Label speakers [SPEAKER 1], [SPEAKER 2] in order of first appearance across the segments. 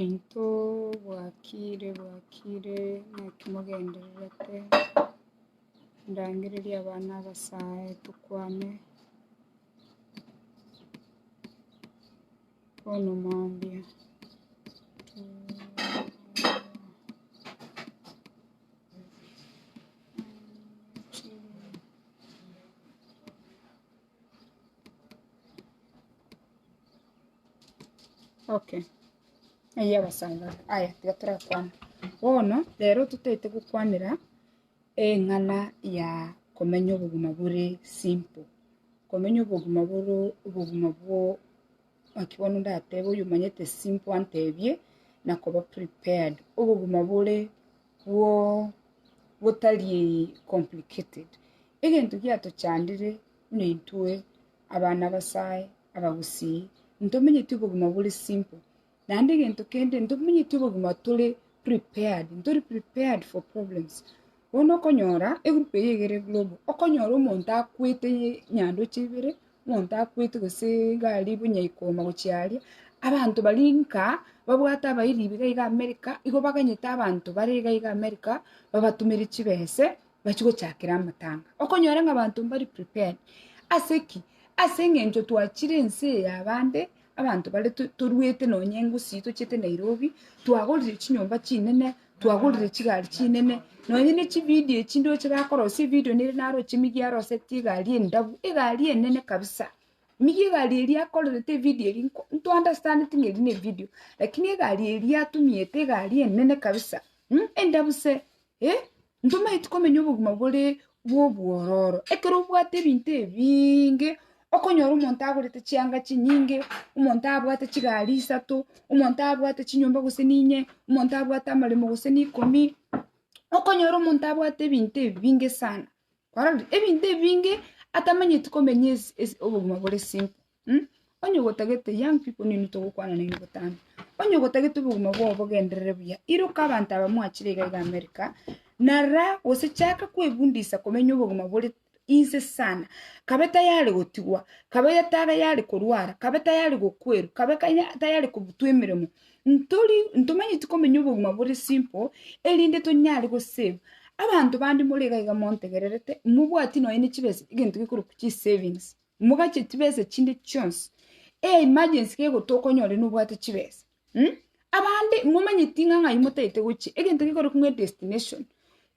[SPEAKER 1] Into bwakire bwakire naki mogendererete ndangererie abana abasae tokwane bono mambia Okay, eyio abasaaba aba. Aya tiga torakwane. Bono, rero totaete gokwanera eng'ana ya komenya obogima bore simple. Komenya obogima bore obogima bwo naki bono ndatebe oyomanyete simple antebie, nakoba prepared. Obogima bore bwo gotari complicated. Egento giatochandire buna intwe abana b'Abasae, abagusii, ntomenyeti obogima bore simple, naende egento kende ntomenyeti obogima tore prepared, ntori prepared for problems. Bono okonyora, egroup eyio egere global, okonyora omonto akwete nyandoche ibere. omonto akwete gose egari buna ikooma gochia aria, abanto baria nka babwate abairi iga iga America, igo baganyete abanto bare iga iga America babatomere chibese bachie gochakera amatanga. Okonyora ng'a abanto mbari prepared, ase ki? Ase eng'encho twachire ense eye ya bande. Abanto bare to- toruete nonye engusi tochiete Nairobi, twagorire chinyomba chinene, twagorire chigari chinene, nonye ne chividio echi ndoche bakorosia evidio nere naroche meyie arosetie egari endabu, egari enene kabisa. Meyie egari eria akorerete evidio eria nko- ntounderstandeti ng'a eri nevidio, lakini egari eria atumiete egari enene kabisa, endabu se, eh. Ntomaeti komenya obogima bore bw'obwororo. Ekero obwate ebinto ebinge, okonyora omonto agorete chianga chinyinge, omonto abwate chigari isato, omonto abwate chinyomba gose ninye, omonto abwate amaremo gose n'ikomi, okonyora omonto abwate ebinto ebinge sana. Kwarorire? Ebinto ebinge atamanyeti komenya ase obogima bore simple. Onye ogotagete young people nigo togokwana neino botambe. Onye ogotagete obogima bwao obogenderere buya, iroka abanto aba mwachire iga iga America, na ra gose chaka kwefundisha komenya obogima bore easy sana, kabe tayari gotigwa, kabe tayari korwara, kabe tayari gokwerwa, kabe kanya- tayari kobutwa emeremo. Ntori, ntomanyeti komenya obogima bore simple, erinde tonyare go save. Abanto bande more iga iga montegererete, mobwati nonya ne chibesa, egento gekorokwa chisavings. Mogache chibesa chinde chionsi. E emergency kego tokonya ore nobwate chibesa. Mh? Abande momanyeti ng'a ng'ai motaete gochia. Egento gekore kong'e destination.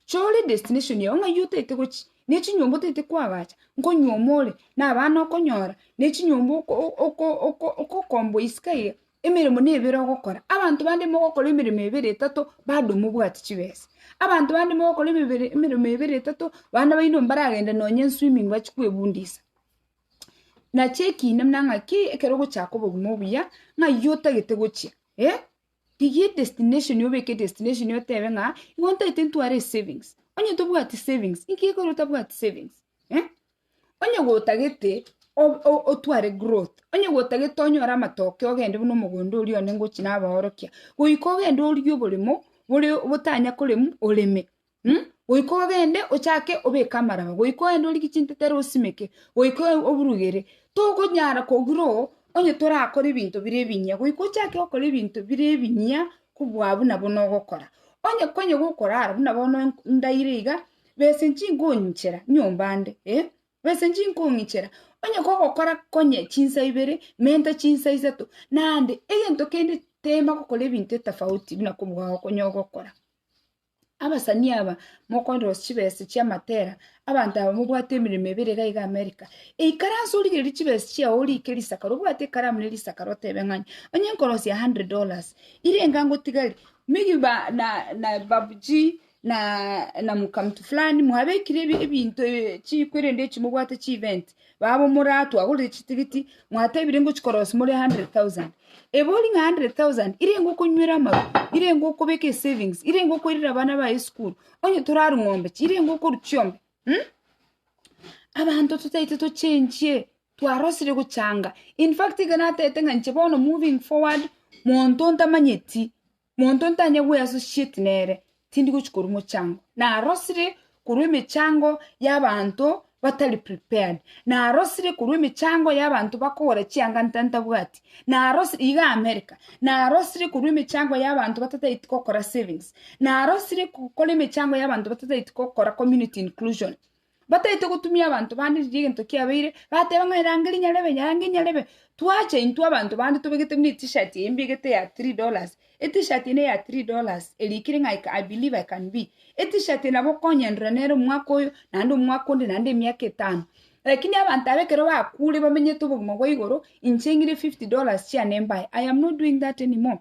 [SPEAKER 1] Chore destination yao ng'ai otaete gochia. Ne chinyomba otaete koagacha. Nkonyuoma ore. Na abana okonyora. Ne chinyomba oko- oko- oko- okokomboa isiko iga. Emeremo nebere ogokora, abanto bande mogokora emeremo ebere etato, bado mobwati chibesa. Abanto bande mogokora emebere emeremo ebere etato, bana baino mbaragende nonye eswimming bachi kwebundisa. Nachi ekina buna ng'aki, ekero ogochaka obogima obuya, ng'ai otagete gochia eh, rigia edestination obeke edestination otebe ng'a, igo ntagete ntware esavings, onye tobwati savings, inki gekogera otabwati savings eh. Onye gwotagete otware growth, onye gwotagete onyore amatokeo ogende buna omogondo oria one ngochi nabaorokia, goika ogende origie oboremo bore botanya koremwa oreme mh, goika ogende ochake obeke amaraba, goika ogende origie chintete ere osimeke, goika oburugere, tokonyara ko grow onye torakore ebinto bire ebinyia, goika ochake gokora ebinto bire ebinyia kobua buna bono ogokora. Onye konya gokorara buna bono ndaire iga, Bese nchinkong'ichera nyomba ande, eh, bese nchinkong'ichera, onye kogokora konye chinsa ibere, menta chinsa isato, naende egento kende tema gokora ebinto etafauti buna kobugao konye ogokora. Abasani aba mokondosia chibesa chi'amatera, abanto aba mobwate emeremo ebere iga iga America, eikare anse origererie chibesa chiao orike risakaro, obwate ekaramu ne risakaro otebe ng'ai, onye nkorosia hundred dollars, ire enga ngotigari, megi ba- na- na babuchii. na namuka mtu fulani mwabekire ebinto chiko erinde echi mobwate chi event babo more aa twagorire chitigiti mwatebire ngochi korosia more 100,000 ebe ori ng'a 100,000 irenge okonywera amafu irenge okobeka esavings irenge okoirera abana baye esukuru onye toraru ng'ombe chi irenge okoru chiombe abanto totaete tochenchie twarosire gochanga infact iga natete ng'a inche bono moving forward monto ntamanyeti. Monto ntanye gweasociate nere, tindi gochi korwa mochango. Narosire korwa emechango y'abanto batari prepared. Narosire korwa emechango y'abanto bakogora chianga nta- ntabwati. Narosire, iga America, narosire korwa emechango y'abanto batatagete gokora savings. Narosire gokora emechango y'abanto batatagete gokora community inclusion. Bataete gotumia abanto bande riria egento kiabeire, bateba ng'a erange rinyarebe, nyarange inyarebe. Twacha intwe abanto bande tobegete buna etishirt eye mbegete ya three dollars, etishirt eye neya three dollars, eria ekere ng'a I believe I can be. Etishirt eye nabo okonyendora nere omwaka oyo, naende omwaka onde, naende emiaka etano. Rakini abanto aba ekero bakure bamenyete obogima bwa igoro, inche ng'ire fifty dollars chiane mbae, I am not doing that anymore.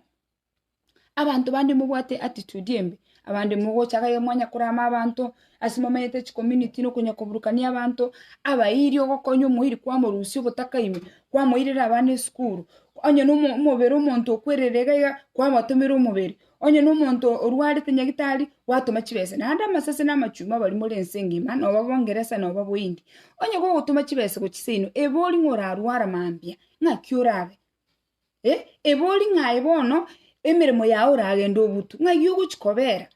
[SPEAKER 1] Abanto bande mobwate attitude embe, abande mogocha iga iga mwanya korama abanto, ase momenyete chicommunity na okonyakoburukania abanto, abairi ogokonywa omoiri kwamorusia obotaka ime, kwamoirera abana esukuru, onye nomo omobere omonto okwerire iga iga, kwabatomera omobere, onye na omonto orwarete nyagitari, gwatoma chibesa. Naende amasese na amachumia baria more ense engima, noba bongeresa noba bohindi, onye gogotoma chibesa gochia seino, ebe oria ng'a orarware mambia, ng'aki orabe. Eh, ebori ng'a aye bono emeremo yao oragende obutu, ng'ai ogochi kobera?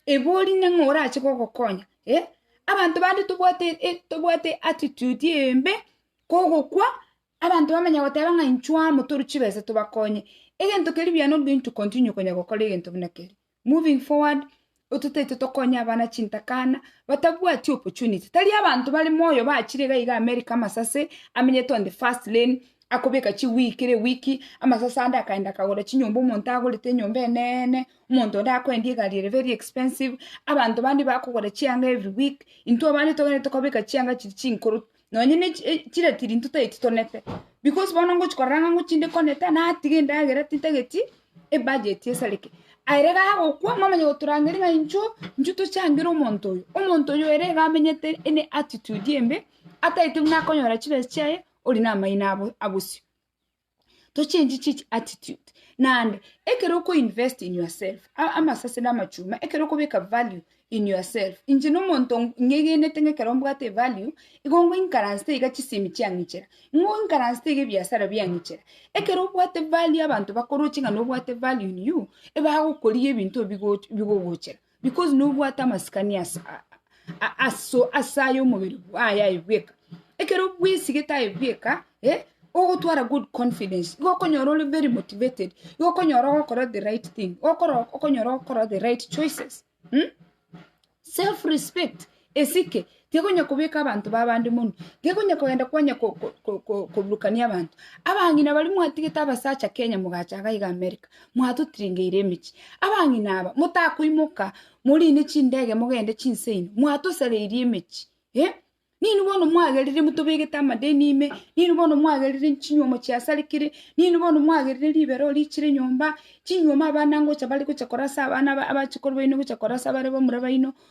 [SPEAKER 1] Ebori ne ng'a orache gogokonya, eh. Abanto bande tobwate e tobwate attitude embe, kogokwa, abanto bamanya goteba ng'a inchuo amo toru chibesa tobakonye. Egento keria buya nobobe intwe continue konya gokora egento buna keria. Moving forward, ototaete tokonye abana chintakana batabwati opportunity, tari abanto bare moyo bachire iga iga America amasase amenyete on the first lane, akobeka chiweek kera ewiki, amasase ande akaenda akagora chinyomba omonto agorete enyomba eneene, omonto onde akoendia egari ere very expensive, abanto bande bakogora chianga every week, intwe abande togende tokabeka chianga chiri chinkoro. nonye ne chi- e- chiretiri intwe tari titonete, because bono ngochi korora ng'a ngochi inde konete, natiga endagera tintageti ebudget esareke. Aye rero agokwa, momanye goturangeri ng'a inchuo, inchuo tochangere omonto oyo, omonto oyo ere iga amenyete ene attitude embe, atagete buna akonyora chibesa chiaye, ori namaino abo abosio. to change chichi attitude naende ekero oko invest in yourself a- amasese na amachuma ekero okobeka value in yourself inche na omonto ng- ng'egenete ng'a ekero mbwate evalue igo ngoinkaransete iga chisemi chiang'ichera ngoinkaransete iga ebiasara biang'ichera ekero obwate value abanto bakoroche ng'a nobwate value in you ebagokoria ebinto ebigo bigogochera Because nobwate amasikani ase ase aye omobere bwaye aye bweka. Ekero bwesigete aye bweka eh, ogotwara good confidence, igo okonyora ore very motivated, igo okonyora ogokora the right thing, okonyora ogokora the right choices. Self respect Esike tekonya kobeka abanto b'abande monwe, tekonya kogenda kwanya koburukania abanto. Abang'ina baria mwatigete abasacha Kenya mogacha iga iga America, mwatotirengeire emechie. Abang'ina aba motakoimoka morine chindege mogende chinse inwe, mwatosareirie emechie eh. Ninwe bono mwagerire motobegete amadeni ime, ninwe bono mwagerire chinyuomo chiasarekire, ninwe bono mwagerire ribero richire nyomba, chinyuomo abana ngocha bare gocha korasa abana abache korwa baino gocha korasa bare bamura baino.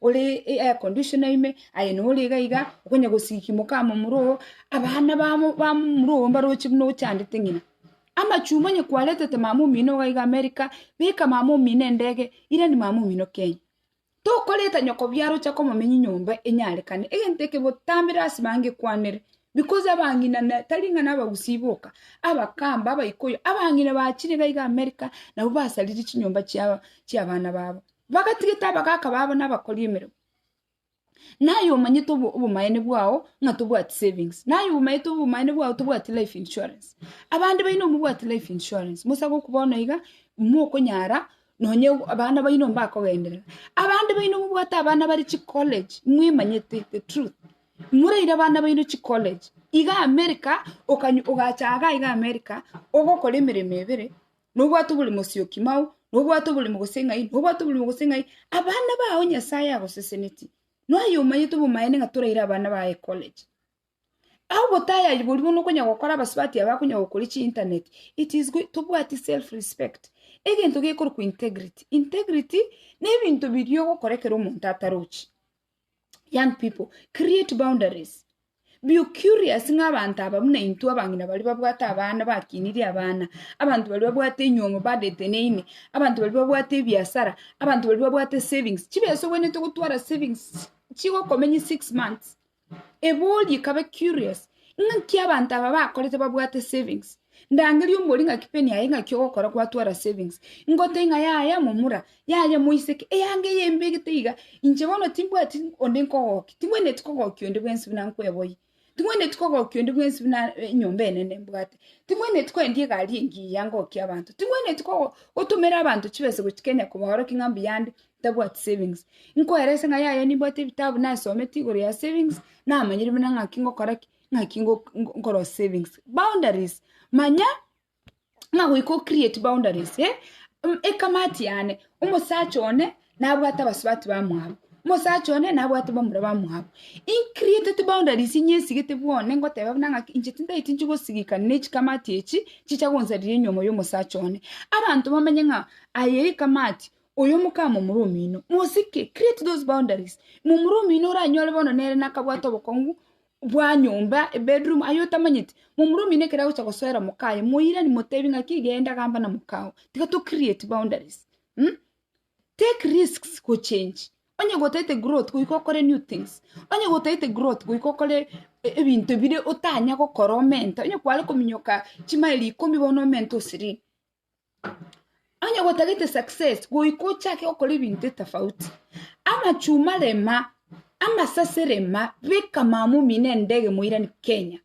[SPEAKER 1] ore air conditioner ime, aye nore iga iga, okonya gosikia omokama omoro oo, abana ba mo- ba momura oo mbaroche buna ochandete ng'ina. Amachumba onye kwaretete mama omino iga iga america, beka mama omino endege, irani mama omino kenya. Tokoreta nyoko biara ocha komomenya enyomba enyarekane, egento eke botambe rasi bange kwanere, because abang'ina na tari ng'a nabagusii boka, abakamba, abaikoyo, abang'ina bachire iga iga america, nabo basariri chinyomba chiaba chiabana babo. Bagatigete abagaaka babo na abakori emeremo. Naye omanyete obo- obomaene bwao ng'a tobwati savings, naye omanyete obomaene bwao tobwati life insurance. Abande baino mobwati life insurance, mosa goku bono iga, mokonyara nonye ogo abana baino mbakogenderera. Abande baino mobwate abana bare chicollege, mwemanyete the truth, moraire abana baino chicollege. Iga America, okanyo- ogacha iga iga America, ogokora emeremo ebere, Nobwate oborimo sioki mao, nobwate oborimo gose ng'ai, nobwate oborimo gose ng'ai, abana bao Nyasae agosesenetie. Noyo omanyete obomaene ng'a toraire abana baye ecollege. Ao obotayari boria bono okonya gokora abasubati aba bakonya gokoria chiinternet, it is good tobwati self respect, egento gekorokwa integrity. Integrity, na ebinto biria ogokora ekero omonto atarochi. young people create boundaries be curious ng'a abanto aba buna intwe abang'ina baria babwate abana bakinirie abana, abanto baria babwate enyiomo badeteneine, abanto baria babwate ebiasara, abanto baria babwate esavings, chibesa obwenerete gotwara savings chigokomenya six months, ebe orie kabe curious ng'aki abanto aba bakorete babwate savings, Ndangerie omori ng'aki peni yaye ng'aki ogokora gwatwara savings. Ngote ng'a yaya momura, yaya moiseke, eyanga eye mbegete iga, inche bono timbwati onde nkogokia, ting'wenereti kogokia onde bwensi buna nkweboyie, ting'wenereti kogokia onde bwensi buna enyomba enene mbwate, ting'wenereti koendia egari engiya ngokie abanto, ting'wenereti kogo gotomera abanto chibesa gochia Kenya kobaorokia ng'a mbuya ande ntabwati savings. Nkoerese ng'a yaya nimbwate ebitabu nasometi igoro ya savings, namanyire buna ng'aki ngokora ki. ng'aki ngo- ngo- nkoro savings boundaries manya ng'a goika ocreate boundaries eh? Mm, ekamati yane omosacha one nabwate abasubati bamwabo omosacha one nabwate bamura bamwabo increatete boundaries inyesigete bwane ngoteba buna ng'aki inche tindaeti nchigosigika nechikamati echi chicha gonsarira enyomo ya omosacha one abanto bamenye ng'a aye ekamati oyo omokama momura omino mosike create those boundaries momura omino oranyore bono nere nakabwate obokong'u bwa nyomba, ebedroom, aye otamanyeti, momura omino ekero agocha gosoera omokaye, moirani motebi ng'aki genda gamba na mokao, tiga to create boundaries um take risks gochengi, onye gotaete growth goika okore new things, onye gotaete growth goika okore ebinto bire otanya gokora omenta, onye kware kominyoka chimaeli ikomi bono omenta o sirini. Onye gotagete success goika ochake gokora ebinto etafauti. Amachuma rema, amasase rema, beka mama omino endege moirane Kenya.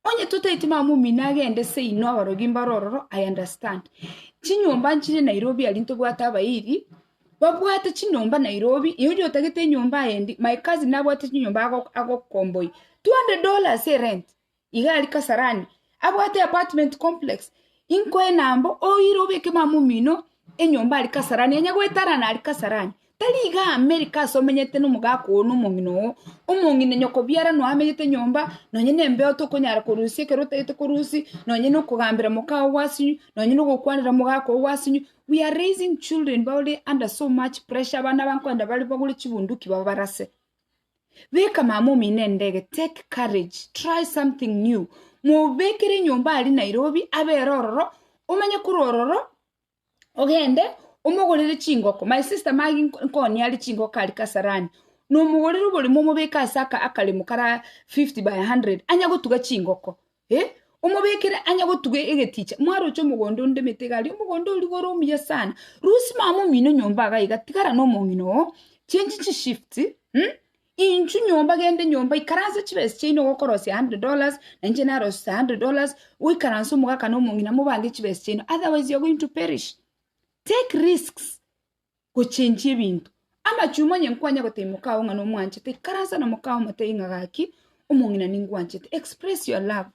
[SPEAKER 1] Onye totaeti mama omino agende seino abarogi mbare ororo I understand. Chinyomba nchire Nairobi aria ntobwate abairi, babwate chinyomba Nairobi, oyoria otagete enyomba aye endi, my cousin nabwate chinyomba ago- agokomboi two hundred dollars erent. Iga aria Kasarani abwate apartment complex, inkoe nambo oire obeke mama omino enyomba aria Kasarani, onye gwetarana aria Kasarani. Tari iga America ase omenyete nomogaka oo na omong'ina oo, omong'ina nyoko biara noe amenyete nyomba, nonye nembeo tokonyara korusia ekero otagete korusia, nonye na okogambera mokao gwasio, nonye na ogokwanera mogaka oo gwasio, we are raising children baure under so much pressure, abana abankoenda bare bagure chibunduki babarase. Beka mama omino endege, take courage, try something new. Mobekere enyomba aria Nairobi, abere ororo, omenye korwa ororo, ogende omogorere chingoko. My sister Maggie nko- nkonia aria chingoko aria Kasarani, nomogorere oborimo omobeke ase aka- akaremo kara 50 by 100, anya gotuga chingoko. Ee, omobekere ang'e gotuga egeticha, mwaroche omogondo onde emete iga aria, omogondo o rigoro omuya sana. Rusia mama omino nyomba iga iga, tigara nomong'ina oo, change chishifts, mm, inchu nyomba genda enyomba, ikaransa chibesa chiaino gokorosia hundred dollars, na inche narosete hundred dollars, goikaransa omogaka nomong'ina mobange chibesa chiaino, otherwise you're going to perish. Take risks. gochenchia ebinto. Amachumwa onye nkwanya gotebia mokao ng'a nomwanchete, ikaransa na mokao omotebie ng'a gaki, omong'ina ningwanchete, express your love.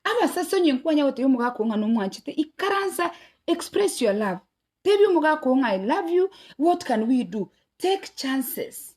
[SPEAKER 1] Abasase onye nkwanya gotebia omogaka oo ng'a nomwanchete, ikaransa, express your love. Tebia omogaka oo ng'a I love you, what can we do? Take chances.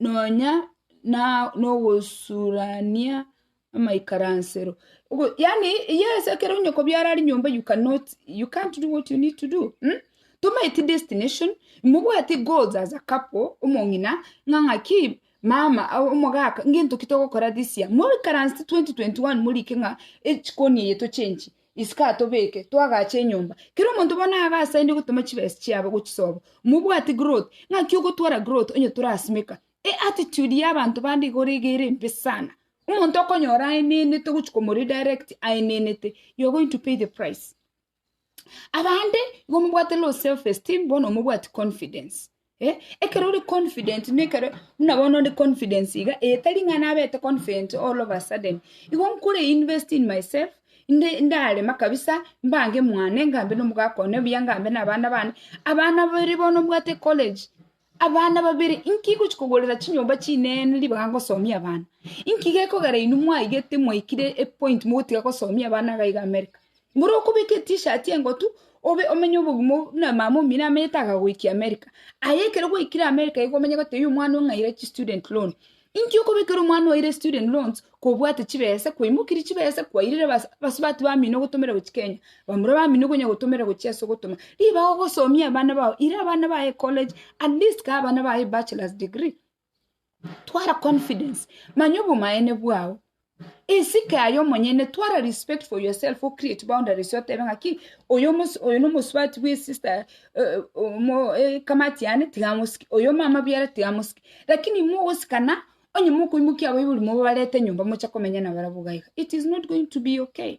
[SPEAKER 1] nonya na- nogosurania amaikaransero. Ogo- yaani yes ekero onye kobiara rinyomba you cannot you can't do what you need to do mm? tomaeti destination mobwati goals as a couple omong'ina ng'a ng'aki mama au omogaka ngento ki togokora this year moikaransete 2021 morike ng'a echikoni eye tochenchie Isiko atobeke, toagache enyomba. Kera omonto bono abe asainde gotema chibesa chiabo gochisoba. Mobwate growth, ng'aki ogotwara growth onye torasimeka? E attitude ya abanto bande igoro iga ere embe sana. Omonto okonyora aenenete ogochi komoredirect aenenete, you are going to pay the price. Abande igo mobwate low self esteem, bono mobwati confidence. Eh, ekero ore confident nekero buna bono ore confidence iga etari ng'a nabete confident all of a sudden igo nkore invest in myself inde ndarema kabisa mbange mwane ngambe na omogaka one buya ngambe na abana bane abana babere bono mbwate college abana babere inki gochi kogorera chinyomba chinene ribaga ngosomia abana inki gekogera inwe mwaigete mwaikire epoint mogotiga gosomia abana iga iga america Mboro okobeka etishati engotu, obe omenye obogima obo buna mama omino amenyete akagoikia America. Aye ekero gwaikire America igo omenye gotebia omwana ong'aire chistudent loan. Inki okobekera omwana oire student loans kobwate chibese, kwaimokirie chibese, kwairire abas- abasubati bamino ogotomera gochia Kenya, bamura bamino okonya gotomera gochia ase ogotoma, ribaga ogosomia abana bao, ira abana baye ecollege, at least kaa abana baye ebachelor's degree. twara confidence manya obomaene bwao esike aye omonyene twara respect for yourself o create boundaries otebe ng'aki oyo omosi- oyo nomosubati bwe sister eh, omo- eh, kamati yane tigamosiki oyo omama biara tigamosiki lakini mogosikana onye mokoimokia abaibori mobabarete nyomba moche komenya nabarabwo gaiga it is not going to be okay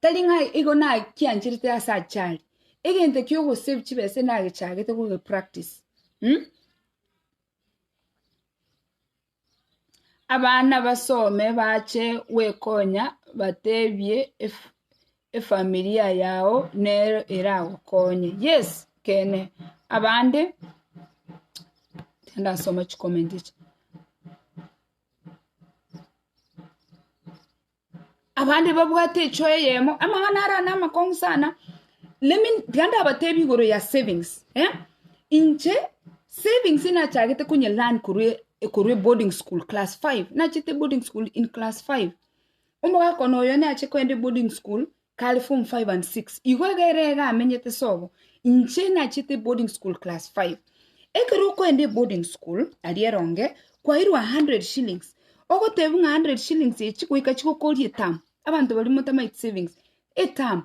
[SPEAKER 1] Tari ng'a igo nakiancherete ase achare, egento ki'ogosave chibesa nagechagete kogepractise um. Abana basome bache gwekonya batebie ef- efamilia yao nero eragokonye. Yes, ekene, abande tindasoma chikomenti echi. Abande babwate echoa eyemo, amang'ana ara namakong'u sana. Let me, tiga ndabatebie igoro ya savings, eh? Inche, savings nachagete konye learn korwa e- korwa eboarding school class five, nachete eboarding school in class five. Omogaka one oyo nache kogenda eboarding school. 506. Igo egere iga amenyete sobo, inche nachete boarding school class 5. Ekero okoenda eboarding school, aria eronge, kwairwa 100 shillings. Ogotebwa ng'a 100 shillings echi goika chigokoria eterm. Abanto baria motamaeti savings. Eterm.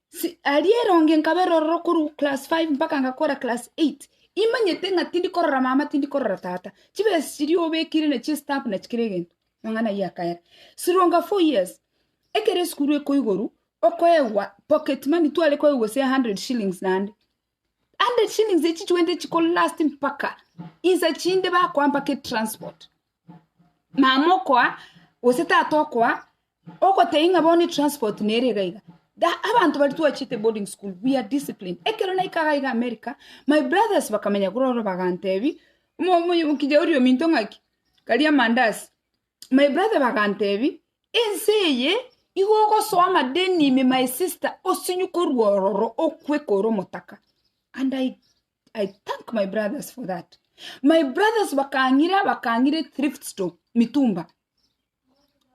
[SPEAKER 1] Si, aria eronge nkabe rororo korwa class 5 mpaka ngakora class 8. Imanyete ng'a tindi korora mama tindi korora tata. Chibesa chiria obekire na chistamp na chikira egento. Amang'ana ayio akaera stronger four years. Ekero esukuru ekoigoru okoegwa pocket money tware koegwa gose 100 shillings naende. 100 shillings echio chigwete chiko last mpaka insa chinde bakoa mpaka etransport. Mama okoa gose tata okoa ogotebia ng'a bono etransport nere iga iga. Da abanto baria twachete boarding school we are disciplined. Ekero naika iga iga America my brothers bakamenya korwa ororo bagantebia, omo- omoyo- kijana oria ominto ng'aki karia amandasi. My brother bagantebia, ense eye igo ogosoa amadeni ime my sister osinywe korwa ororo okwe kore omotaka. And I, I thank my brothers for that. My brothers bakang'ira bakang'ira ethrift store mitumba.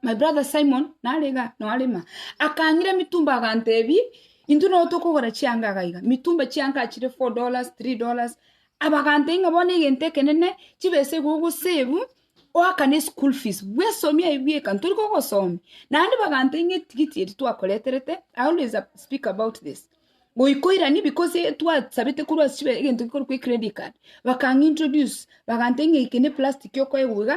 [SPEAKER 1] My brother Simon nare iga narema, akang'ira emitumba agantebia, intwe nabo tokogora chianga iga iga, mitumba chianga achire four dollars, three dollars, abagantebia ng'a bono egento ekenene, chibesa igo ogosave, oakane eschool fees, bwesomia aye bweka, ntori kogosomia, naende bagantebia ng'a etigiti eri twakoreterete, I always speak about this, goika oiranie because twasabete korwa ase chibe egento gekorokwa ecredit card, bakang'introduce, bagantebia ng'a eke ne plastic okoegwa iga.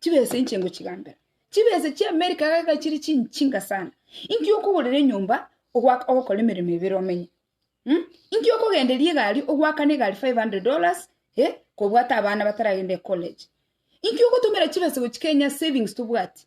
[SPEAKER 1] Chibesa inche ngochigambera. Chibesa chi'Amerika iga chiri chinchinga sana. Inki okogorera enyomba ogwaka ogokora emeremo ebere omenye? Mh? Inki okogenderia egari ogwakana egari 500 dollars eh, kobwata abana bataragenda ecollege? Inki ogotomera chibesa gochia Kenya savings tobwati?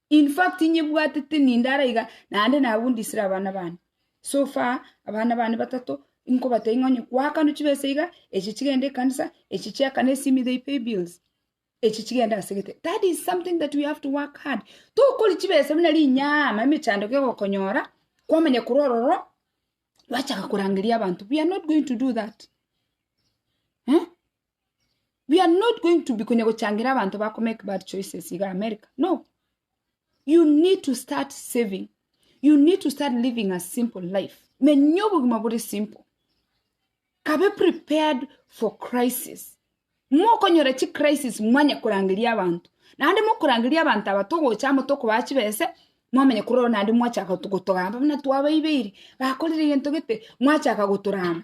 [SPEAKER 1] In fact inyebwatete ninde are iga naende nagundisire abana bane. So far abana bane batato inkobatebi ng'a onye kwakano chibesa iga, echi chigende ekanisa, echi chiaka ne simi they pay bills, echi chigende ase gete. That is something that we have to work hard. Tokori chibesa buna rinyaama emechando kegokonyora kwamanya korwa ororo gwachaka korangeria abanto. We are not going to do that. Eeh. we are not going to be konya gochangira abanto bako make bad choices iga America no you need to start saving you need to start living a simple life menya obogima bore simple kabe prepared for crisis mokonyora chi crisis mwanya korangeria abanto naende mokorangeria abanto aba togocha amo tokobaha chibese mwamenye korora naende mwachaka gotogamba buna twabaibeiri bakorire egento gete mwachaka gotorama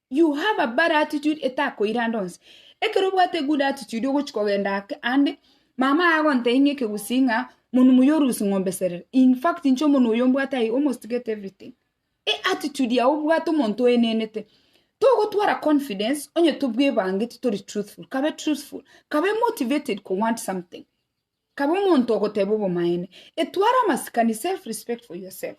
[SPEAKER 1] You have a bad attitude etakoirande onsi. Ekero obwate egood attitude ogochi kogenda ake ande, mama aye agontebia ng'a ekegusii ng'a monwe moyio orusie ng'ombe serere. In fact inche omonwe oyo mbwate I almost get everything. E attitude yao obwate omonto oenenete. Togotwara confidence onye tobwebangeti tori truthful. Kabe truthful. Kabe motivated ko want something. Kabe omonto ogoteba obomaene. Etware amasikani self respect for yourself.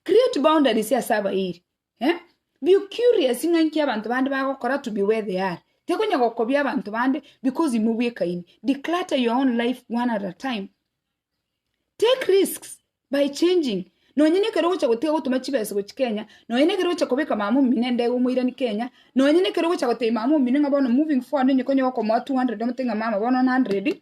[SPEAKER 1] Create boundaries ase abairi. eh? Be curious ng'a inki abanto bande bagokora to be where they are. Tekonya gokobia abanto bande because imwe bwekaini. Declutter your own life one at a time. Take risks by changing. Nonye nekero ogocha gotiga gotuma chibesa gochi Kenya, nonye nekero ogocha kobeka mama omino endege omoirani Kenya, nonye nekero ogocha gotebia mama omino ng'a bono moving forward onye konya okomoa 200 omote ng'a mama bono 100,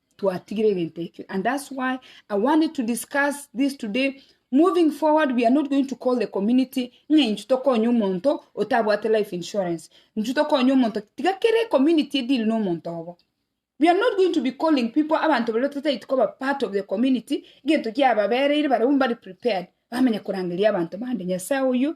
[SPEAKER 1] twatigire egento ekio and that's why I wanted to discuss this today. Moving forward, we are not going to call the community ng'a inchu tokonye omonto otabwate life insurance. Inchu tokonye omonto tiga kere community edili na omonto obo. We are not going to be calling people abantu baria totaiti koba part of the community gento kiababereire barabwo mbari prepared bamanya korangeria abanto bande nyasaye oyo